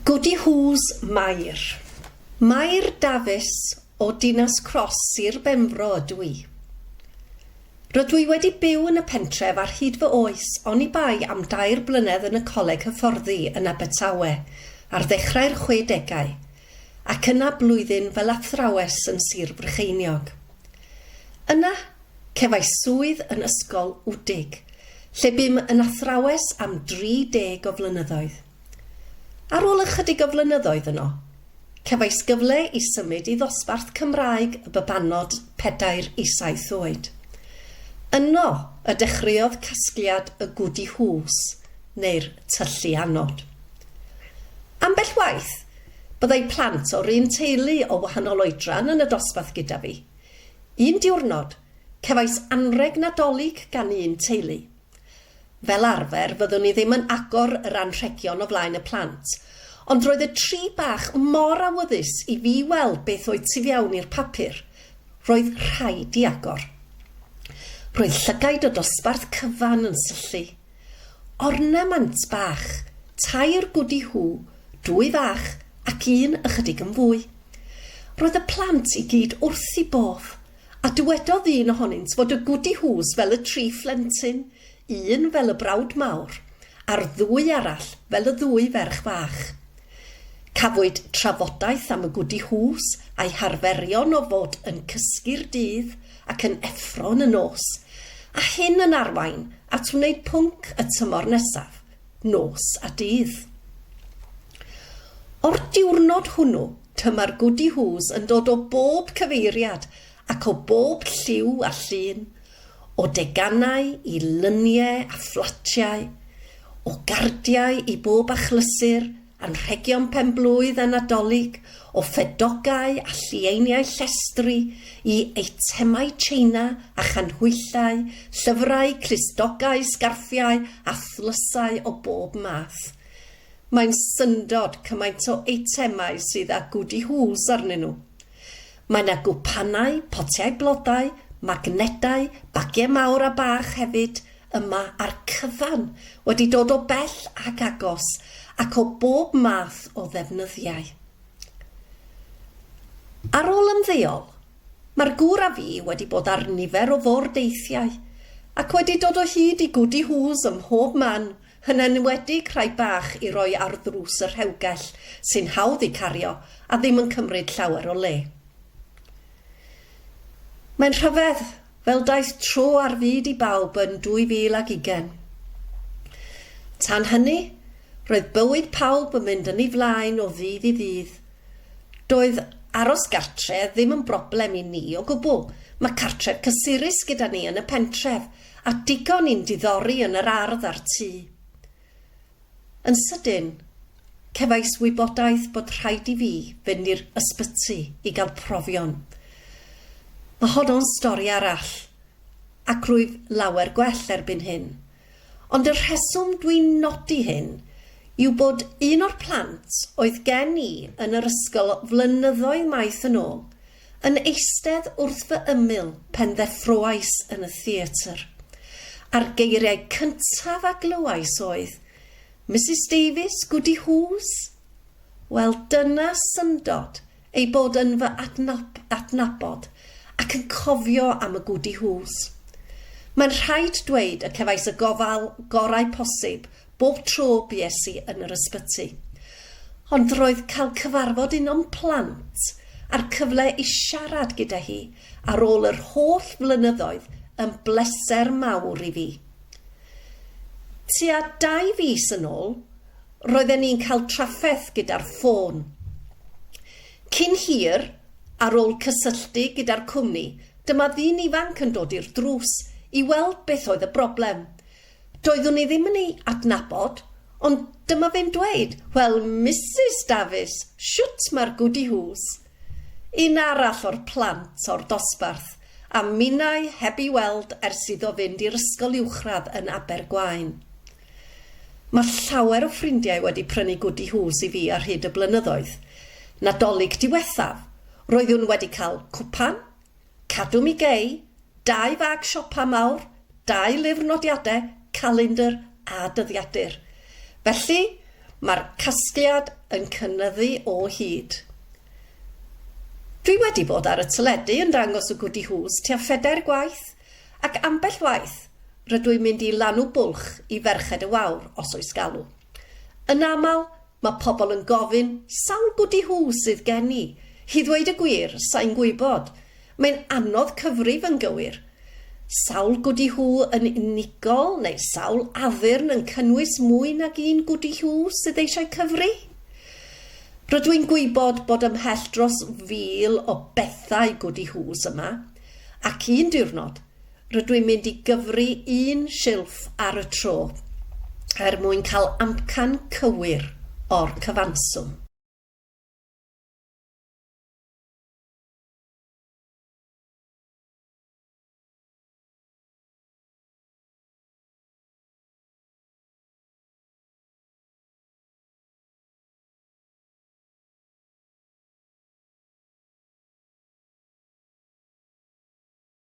Goody Who's Mair? Mair Dafis o Dinas Cross, Sir Benfro ydw i. Rydw i wedi byw yn y pentref ar hyd fy oes oni bai am dair blynedd yn y Coleg Hyfforddi yn Abertawe ar ddechrau'r chwedegau ac yna blwyddyn fel athrawes yn Sir Frycheiniog. Yna, cefais swydd yn Ysgol Wdig, lle bum yn athrawes am 30 o flynyddoedd. Ar ôl ychydig o flynyddoedd yno, cefais gyfle i symud i ddosbarth Cymraeg y babanod pedair i saith oed. Yno y dechreuodd casgliad y Goody Hws, neu'r tyllu anod. Ambell waith, byddai plant o'r un teulu o wahanol oedran yn y dosbarth gyda fi. Un diwrnod, cefais anrheg Nadolig gan un teulu. Fel arfer, fyddwn i ddim yn agor yr anrhegion o flaen y plant, ond roedd y tri bach mor awyddus i fi weld beth oedd tu fewn i'r papur, roedd rhaid i agor. Roedd llygaid o dosbarth cyfan yn syllu. Ornament bach, tair gwdi Who, dwy fach ac un ychydig yn fwy. Roedd y plant i gyd wrth eu bodd. A dywedodd un ohonynt fod y Gwdi Hŵs fel y tri phlentyn, un fel y brawd mawr, a'r ddwy arall fel y ddwy ferch fach. Cafwyd trafodaeth am y Gwdi Hŵs a'i harferion o fod yn cysgu'r dydd ac yn effro yn y nos, a hyn yn arwain at wneud pwnc y tymor nesaf, nos a dydd. O'r diwrnod hwnnw, tyma'r Goody Whos yn dod o bob cyfeiriad ac o bob lliw a llun, o deganau i lyniau a fflatiau, o gardiau i bob achlysur, anrhegion pen-blwydd a Nadolig, o ffedogau a llieiniau llestri i eitemau tsieina a chanhwyllau, llyfrau, clustogau, sgarffiau a thlysau o bob math. Mae'n syndod cymaint o eitemau sydd â Goody Hools arnyn nhw. Mae 'na gwpanau, potiau blodau, magnedau, bagiau mawr a bach hefyd, yma a'r cyfan wedi dod o bell ac agos ac o bob math o ddefnyddiau. Ar ôl ymddeol, mae'r gŵr a fi wedi bod ar nifer o fordeithiau ac wedi dod o hyd i Goody Who's ym mhob man, yn enwedig rhai bach i roi ar ddrws y rhewgell sy'n hawdd eu cario a ddim yn cymryd llawer o le. Mae'n rhyfedd, fel daeth tro ar fyd i bawb yn 2020. Tan hynny, roedd bywyd pawb yn mynd yn ei flaen o ddydd i ddydd. Doedd aros gartre' ddim yn broblem i ni o gwbl, mae cartref cysurus gyda ni yn y pentref, a digon i'n diddori yn yr ardd a'r tŷ. Yn sydyn, cefais wybodaeth bod rhaid i fi fynd i'r ysbyty i gael profion. Mae honno'n stori arall, ac rwyf lawer gwell erbyn hyn. Ond y rheswm dwi'n nodi hyn yw bod un o'r plant oedd gen i yn yr ysgol flynyddoedd maith yn ôl Yn eistedd wrth fy ymyl pen ddeffroais yn y theatr, a'r geiriau cyntaf a glywais oedd, Misus Davies, Goody Hughes? Wel, dyna syndod ei bod yn fy adnabod ac yn cofio am y Goody Hughes. Mae'n rhaid dweud y cefais y gofal gorau posib bob tro bues i yn yr ysbyty. Ond roedd cael cyfarfod un o'm plant a'r cyfle i siarad gyda hi ar ôl yr holl flynyddoedd yn bleser mawr i fi. Tua dau fis yn ôl, roedden ni'n cael trafferth gyda'r ffôn. Cyn hir, ar ôl cysylltu gyda'r cwmni, dyma ddyn ifanc yn dod i'r drws i weld beth oedd y broblem. Doeddwn i ddim yn ei adnabod, ond dyma fe'n dweud, 'Wel, Misus Dafis, shwt mae'r gwdi hŵs? Un arall o'r plant o'r dosbarth a minnau heb ei weld ers iddo fynd i'r ysgol uwchradd yn Abergwaun. Mae llawer o ffrindiau wedi prynu gwdi hŵs i fi ar hyd y blynyddoedd. Nadolig diwethaf, roeddwn wedi cael cwpan, Cadw mi gei, dau fag siopa mawr, dau lyfr nodiadau, calendr a dyddiadur. Felly, mae'r casgliad yn cynyddu o hyd. Dwi wedi bod ar y teledu yn dangos y Goody Whos tua phedair gwaith, ac ambell waith, rydw i'n mynd i lanw bwlch i Ferched y Wawr, os oes galw. Yn aml, Mae pobl yn gofyn, sawl gwdi hw sydd gen i? I ddweud y gwir, sa i'n gwybod. Mae'n anodd cyfrif yn gywir. Sawl gwdi hw yn unigol neu sawl addurn yn cynnwys mwy nag un gwdi hw sydd eisiau cyfri? Rydw i'n gwybod bod ymhell dros fil o bethau gwdi hws yma, ac un diwrnod, Rydw i'n mynd i gyfri un silff ar y tro er mwyn cael amcan cywir o'r cyfanswm.